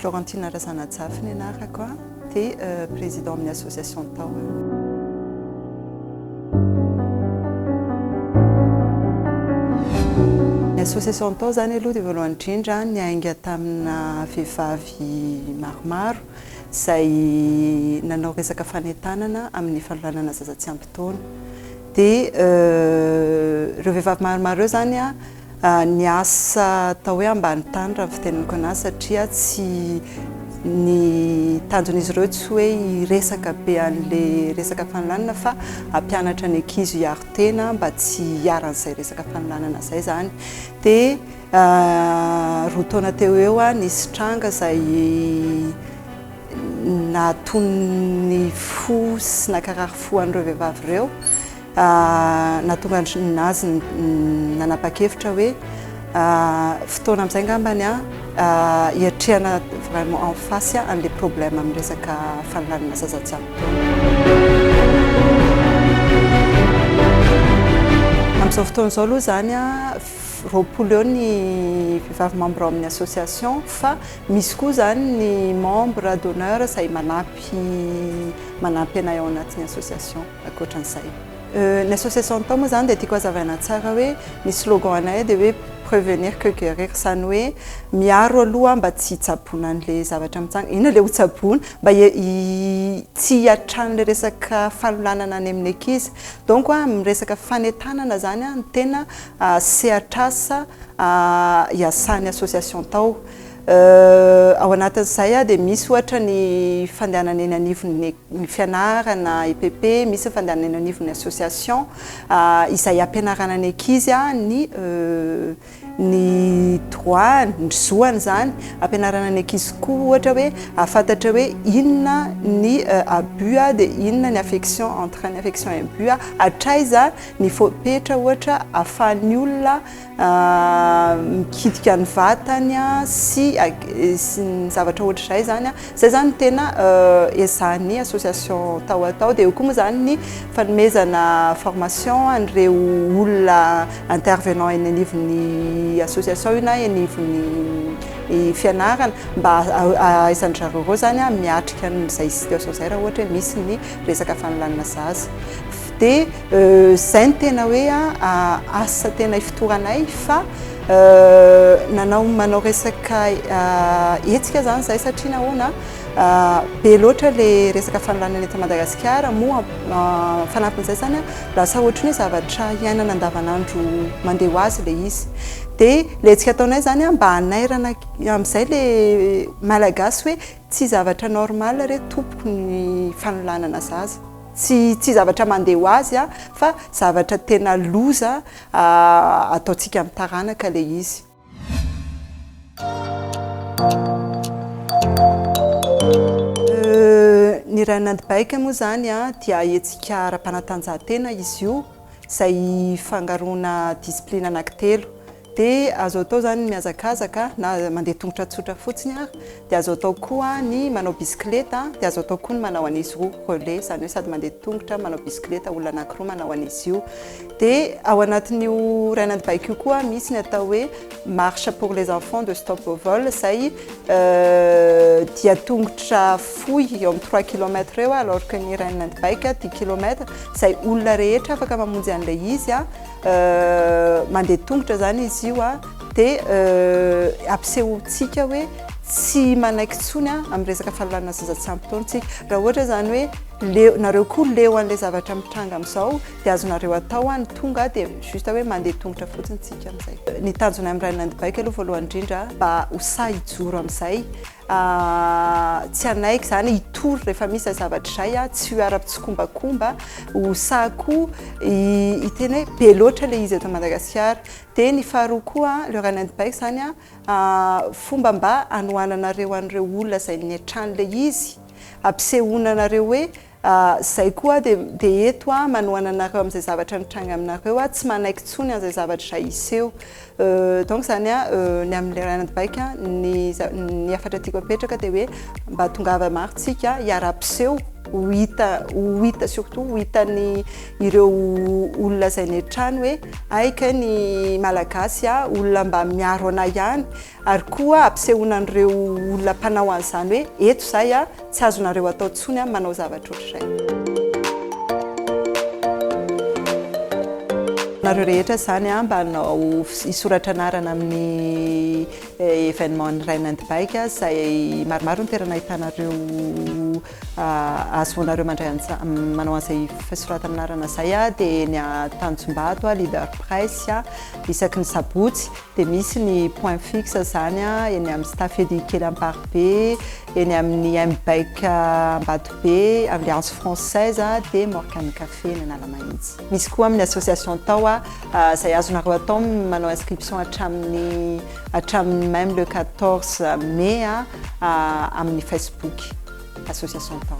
Florentine Razanajafy ny anarako a, dia président amin'ny association Tahona. Ny association Taho izany aloha dia voalohany indrindra niainga tamina vehivavy maromaro izay nanao resaka fanentanana amin'ny fanolanana zaza tsy ampy taona. Dia ireo vehivavy maromaro ireo izany niasa atao hoe ambany tany raha ny fitenenako an'azy satria tsy ny tanjon'izy ireo tsy hoe hiresaka be an'ilay resaka fanolanana fa hampianatra ny ankizy hiaro tena mba tsy hiharan'izay resaka fanolanana izay izany. Dia Roa taona teo ho eo, nisy tranga izay nahatonin'ny fo sy nankarary fo an'ireo vehivavy ireo. Nahatonga an-dry nazy nanapa-kevitra hoe fotoana amin'izay angambany hiatrehana vraiment en face an'ilay problème amin'ny resaka fanolanana zaza tsy ampy taona. Amin'izao fotoana izao aloha izany, roapolo eo ny vehivavy membre ao amin'ny association fa misy koa izany ny membre d'honneur izay manampy manampy anay ao anatin'ny association ankoatran'izay. Ny association atao moa izany dia tiako hazavaina tsara hoe ny slogan anay dia hoe prevenir que guerir izany hoe miaro aloha mba tsy hitsaboana an'ilay zavatra mitsanga, inona ilay hotsaboina? mba tsy hiatran'ilay resaka fanolanana any amin'ny ankizy donc amin'ny resaka fanentanana izany no tena sehatr'asa iasan'ny association tao. Ao anatin'izay dia misy ohatra ny fandehanana eny anivon'ny fianarana, EPP, misy ny fandehanana eny anivon'ny association izay hampianarana ny ankizy ny ny droit-ny, ny zo-any izany, hampianarana ny ankizy koa ohatra hoe hahafantatra hoe inona ny abus dia inona ny affection, entre ny affection et abus, hatraiza. Ny fepetra ohatra ahafahan'ny olona mikitika ny vatany sy ny zavatra ohatr'izay izany, izay izany no tena ezahan'ny association tao atao. Dia eo koa moa izany ny fanomezana formation an'ireo olona intervenant eny anivon'ny association io na eny anivon'ny fianarana mba ahaizan-dry zareo ireo izany miatrika an'izay situation izay raha ohatra hoe misy ny resaka fanolanana zaza. Dia izay no tena hoe asa tena ifotoranay fa nanao manao resaka hetsika izany izahay satria nahoana be loatra ilay resaka fanolanana eto Madagasikara moa fanampin'izay izany lasa ohatran'ny hoe zavatra iainana andavanandro mandeha ho azy ilay izy. Dia ilay hetsika ataonay izany mba hanairana amin'izay ilay Malagasy hoe tsy zavatra normal re tompoko ny fanolanana zaza. Tsy tsy zavatra mandeha ho azy a, fa zavatra tena loza ataontsika amin'ny taranaka ilay izy. Ny Run-and Bike moa izany a, dia hetsika ara-panatanjahantena izy io, izay ifangaroana discipline anankitelo. Dia azo atao izany ny mihazakazaka na mandeha tongotra tsotra fotsiny ary dia azo atao koa ny manao bisikileta dia azo atao koa ny manao an'izy roa relais izany hoe sady mandeha tongotra manao bisikileta olona anakiroa manao an'izy io dia ao anatin'io rainan'ny baiko io koa misy ny atao hoe marche pour les enfants de stop au vol izay dia tongotra fohy eo amin'ny trois kilomètre eo alors que ny rainan'ny baiko dix kilomètre izay olona rehetra afaka mamonjy an'ilay izy Mandeha tongotra zany izy io a dia ampisehoantsika hoe tsy manaiky intsony a amin'ny resaka fanolanana zaza tsy ampy taona tsika raha ohatra zany hoe leo nareo koa leo an'ilay zavatra mitranga amin'izao dia azonareo atao a ny tonga dia juste hoe mandeha tongotra fotsiny tsika amin'izay ny tanjona amin'ny rainandribaiko aloha voalohany indrindra mba ho sahy hijoro amin'izay Tsy hanaiky izany hitory rehefa misy izay zavatra izay aho, tsy ho ara-pitsikombakomba, ho sahy koa hiteny hoe be loatra ilay izy eto Madagasikara. Dia ny faharoa koa, le running bike izany fomba mba hanohananareo an'ireo olona izay niantrano ilay izy, hampisehoana anareo hoe Izay koa aho dia eto aho manohana anareo amin'izay zavatra nitranga aminareo aho tsy manaiky intsony an'izay zavatra izay hiseho donc izany hoe ny amin'ilay ray anadibaiko ny ny hafatra tiako apetraka dia hoe mba tongava maro tsika hiara-piseho ho hita ho hita surtout ho hitan'ny ireo olona izay ny hatrany hoe hay kay ny malagasy olona mba miaro anay ihany Ary koa ampisehoana an'ireo olona mpanao an'izany hoe, eto izahay a, tsy azonareo atao intsony a, manao zavatra ohatr'izay. Nareo rehetra izany a, mba hanao, hisoratra anarana amin'ny événement ny Rain and Bike a, izay maromaro ny toerana ahitanareo ahazoanareo mandray an'izany, manao an'izay fisoratana anarana izay a, dia eny Tanjombato a, Leader Price a, isaky ny sabotsy. Dia misy ny point fixe izany eny amin'ny staff edu kely Amparibe, eny amin'ny MBEC Ambatobe, Alliance Française dia Morgan Café eny Analamahitsy. Misy koa amin'ny association tao izay azonareo atao ny manao inscription hatramin'ny hatramin'ny même le quatorze mai amin'ny facebook association tao.